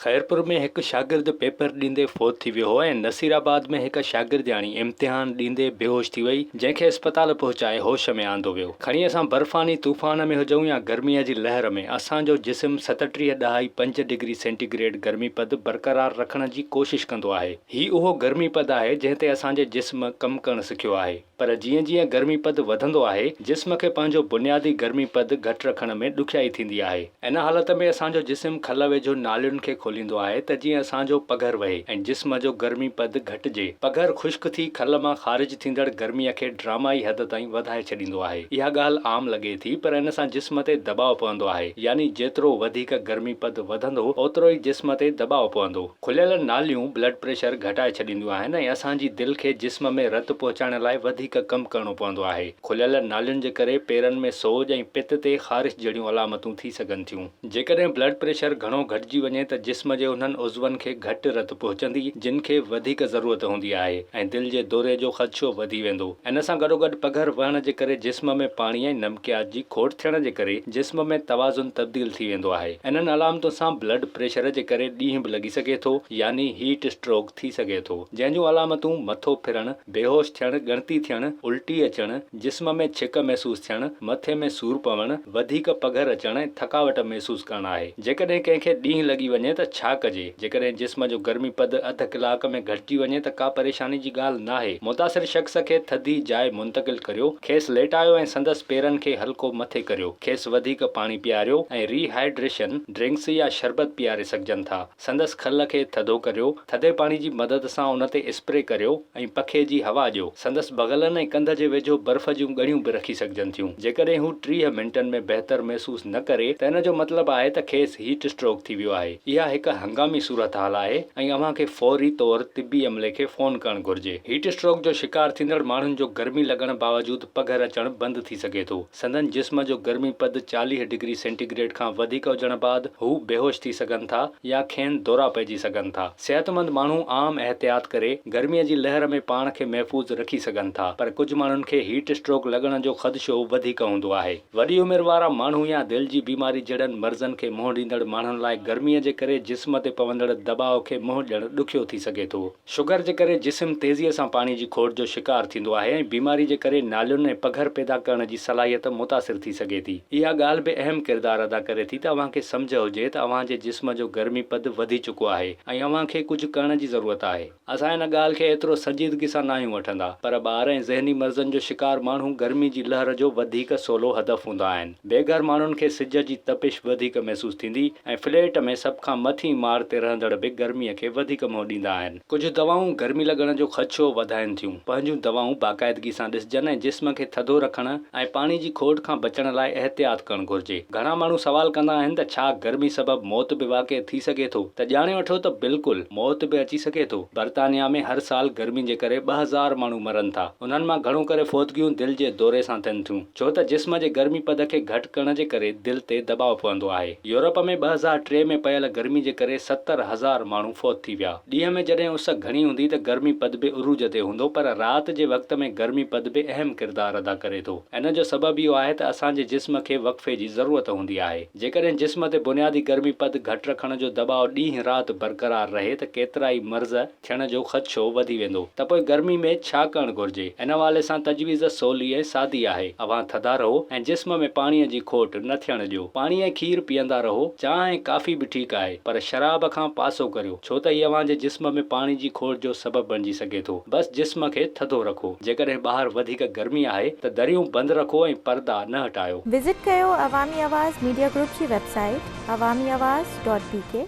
خيرپور ۾ هڪ شاگرد پيپر ڏيندي فوت ٿي ويو ۽ نصير آباد ۾ هڪ شاگردياڻي امتحان ڏيندي بيهوش ٿي وئي جنهن کي اسپتال پهچائي هوش ۾ آندو ويو کڻي اسان برفاني طوفان ۾ هجون يا گرمي جي لهر ۾ اسان جو جسم ستٽيهه ڏهائي پنج ڊگري سينٽي گريڊ گرمي پد برقرار رکڻ جي ڪوشش ڪندو آهي هي اهو گرمي پد آهي جنهن تي اسان جي جسم ڪم ڪرڻ سکيو آهي. پر جيئن جيئن گرمي پد وڌندو آهي، جسم کي پنهنجو بنيادي گرمي پد گهٽ رکڻ ۾ ڏکيائي ٿيندي آهي. ان حالت ۾ اسان جو جسم کل ويجهو نالين کي کوليندو آهي ته جيئن اسان جو پگهر وهي ۽ جسم جو گرمي پد گهٽجي. پگهر خشڪ ٿي کل مان خارج ٿيندڙ گرميء کي ڊرامائي حد تائين وڌائي ڇڏيندو آهي. اها ڳالهه عام لڳي ٿي پر ان سان جسم تي دٻاء پوندو آهي يعني جيترو وڌيڪ گرمي پد وڌندو اوترو ئي جسم تي دٻاء پوندو. کليل ناليون بلڊ پريشر گهٽائي ڇڏينديون آهن ۽ اسان جي دل کي جسم ۾ رت پهچائڻ لاء وڌيڪ ڪم ڪرڻو پوندو آهي. کليل نالين جي ڪري پيرن ۾ سوڄ ۽ پت تي خارش جهڙيون علامتون ٿي سگهن ٿيون. جيڪڏهن بلڊ پريشر گهڻو گهٽجي وڃي ته جسم جي انهن عضون کي گهٽ رت پهچندي جن کي وڌيڪ ضرورت هوندي آهي ۽ دل جي دوري جو خدشو وڌي ويندو. ان سان گڏوگڏ پگهر وهڻ جي ڪري جسم ۾ پاڻي ۽ ميڪياج جي کوٽ ٿيڻ جي ڪري جسم ۾ توازن تبديل ٿي ويندو آهي. انهن علامتن سان بلڊ پريشر جي ڪري ڏينهن به لڳي سگهي ٿو يعني هيٽ اسٽروڪ ٿي سگهي ٿو. جنهن جون علامتون مٿو ڦرڻ، بيهوش ٿيڻ، ڳڻتي ٿيڻ، الٽي اچڻ، جسم ۾ ڇڪ محسوس ٿيڻ، مٿي ۾ سور پوڻ، وڌيڪ پگهر اچڻ ۽ ٿڪاوٽ محسوس ڪرڻ آهي. جيڪڏهن ڪنهن کي ڏينهن لڳي وڃي ته ڇا ڪجي؟ جيڪڏهن جسم جو گرمي پد اڌ ڪلاڪ ۾ گهٽجي وڃي ته ڪا پريشاني جي ڳالهه ناهي. متاثر شخص کي ٿڌي جاء منتقل ڪريو. کيس ليٽايو ۽ سندس پيرن کي هلڪو مٿي ڪريو. کيس وڌيڪ پاڻي پياريو ۽ ري هائيڊريشن ڊرنڪس يا شربت پياري سگهجن ٿا. سندس کل کي ٿڌو ڪريو. ٿڌي پاڻي جي مدد سان ان تي اسپري ڪريو ۽ پکي جي هوا ڏيو. سندس بغلن ۽ ڪنڌ جي ويجهو برف جون ڳڙيون به رکي سگهجن ٿيون. جيڪڏهن هو ٽيهه منٽن ۾ بهتر محسوس نه ڪري ته ان جو مطلب آهي ته کيس هيٽ اسٽروڪ ٿي ويو آهي. اها هڪ هنگامي صورتحال آهي ۽ اوهان کي فوري طور طبي عملي کي فون ڪرڻ گهرجي. هيٽ اسٽروڪ جو شڪار ٿيندڙ ماڻهن جو گرمي لڳڻ باوجود پگهر اچڻ بند ٿي سگهي ٿو. سندن جسم جو گرمي پد چاليهه ڊگري سينٽي گريڊ کان وڌيڪ هجڻ بعد هو بيهوش ٿي سگهن ٿا يا کين دورا پئجي سگهن ٿا. صحتمند ماڻهو عام احتياط ڪري گرميء جي لهر ۾ پاڻ کي محفوظ رکي سگهن ٿا پر ڪجهه ماڻهن کي هيٽ اسٽروڪ لڳڻ جو خدشو وڌيڪ هوندو آهي. وڏي عمر وارا ماڻهو يا دل جي بيماري جهڙن مرضن کي منهن ڏيندڙ ماڻهن لاء گرميء جي ڪري جسم تي پوندڙ دٻاء کي منهن ڏيڻ ڏکيو ٿي سگهي ٿو. شگر جي ڪري جسم تيزيء سان پاڻي جي کوٽ جو شڪار ٿيندو آهي ۽ بيماري جي ڪري نالين ۽ پگهر پيدا ڪرڻ جي صلاحيت متاثر ٿي سگهي ٿي. اها ڳالهه به اهم ڪردار ادا ڪري ٿي ته اوهان کي سمجهه هجي ته اوهان جي جسم جو گرمي پد وڌي چڪو آهي ۽ اوهان کي ڪجهه ڪرڻ جي ضرورت آهي. اسان ان ڳالهه کي ايترو سنجيدگي سان ناهيون وٺندا، پر ٻار ۽ ذهني مرضن جو شڪار ماڻهو گرمي جي لهر جو وڌيڪ سولو هدف هوندا آهن. بي گهر ماڻهن کي سج جي تپش وڌيڪ محسوس ٿيندي ۽ فليٽ ۾ سڀ کان مٿين ماڙ تي رهندڙ به گرمي کي وڌيڪ منهن ڏيندا آهن. ڪجهه دوائون گرمي لڳڻ جو خدشو وڌائين ٿيون. پنهنجون دوائون باقاعدگي سان ڏسجن ۽ جسم کي ٿڌو رکڻ ۽ پاڻي جي کوٽ کان بچڻ لاء احتياط ڪرڻ گهرجي. گهڻا ماڻهو سوال ڪندا آهن ته ڇا گرمي سبب موت به واقع ٿي سگهي ٿو؟ ته ڄاڻي وٺو ته بلڪل موت به اچي سگهي ٿو. برطانيا ۾ هر سال گرمي جي ڪري ٻه هزار ماڻهو مرن ٿا. انهن مان گهڻو ڪري فوتگيون دل جي دوري سان ٿين ٿيون. ڇو ته جسم جي گرمي پد کي گهٽ ڪرڻ جي ڪري دل تي دٻاء پوندو آهي. يورپ ۾ ٻه هزار ٽي ۾ پيل گرمي جي ڪري ستر هزار ماڻهو فوت ٿي ويا. ڏينهن ۾ جڏهن اس گهڻي هوندي ته گرمي پد به عروج تي هوندو پر رات جي وقت ۾ گرمي پد به اهم ڪردار ادا ڪري ٿو. ان جو سبب اهو آهي ته اسان جي جسم کي وقفي جي ضرورت هوندي آهي. جيڪڏهن جسم تي بنيادي گرمي پد گهٽ رکڻ جو دٻاء ڏينهن رات برقرار رهي ته ڪيترائي مرض ٿيڻ جو خدشو وڌي ويندو ته پوء گرمي ۾ ڇا ڪرڻ گهرجي؟ ان حوالي سان تجويز سولي ۽ سادي آهي، اوهان ٿڌا رهو ۽ جسم ۾ پاڻيء جي کوٽ نه ٿيڻ ڏيو. پاڻي ۽ کير پيئندا رهو، چانهه ۽ ڪافي به ٺيڪ آهي، پر شراب کان پاسو ڪريو، ڇو ته هي اوهان جي جسم ۾ پاڻي جي کوٽ جو سبب بڻجي سگهي ٿو. بس جسم کي ٿڌو رکو. جيڪڏهن ٻاهر وڌيڪ گرمي آهي ته دريون بند رکو ۽ پردا نه هٽايو. وزٽ ڪيو عوامي آواز ميڊيا گروپ جي web site Awami Awaz dot بي ڪي.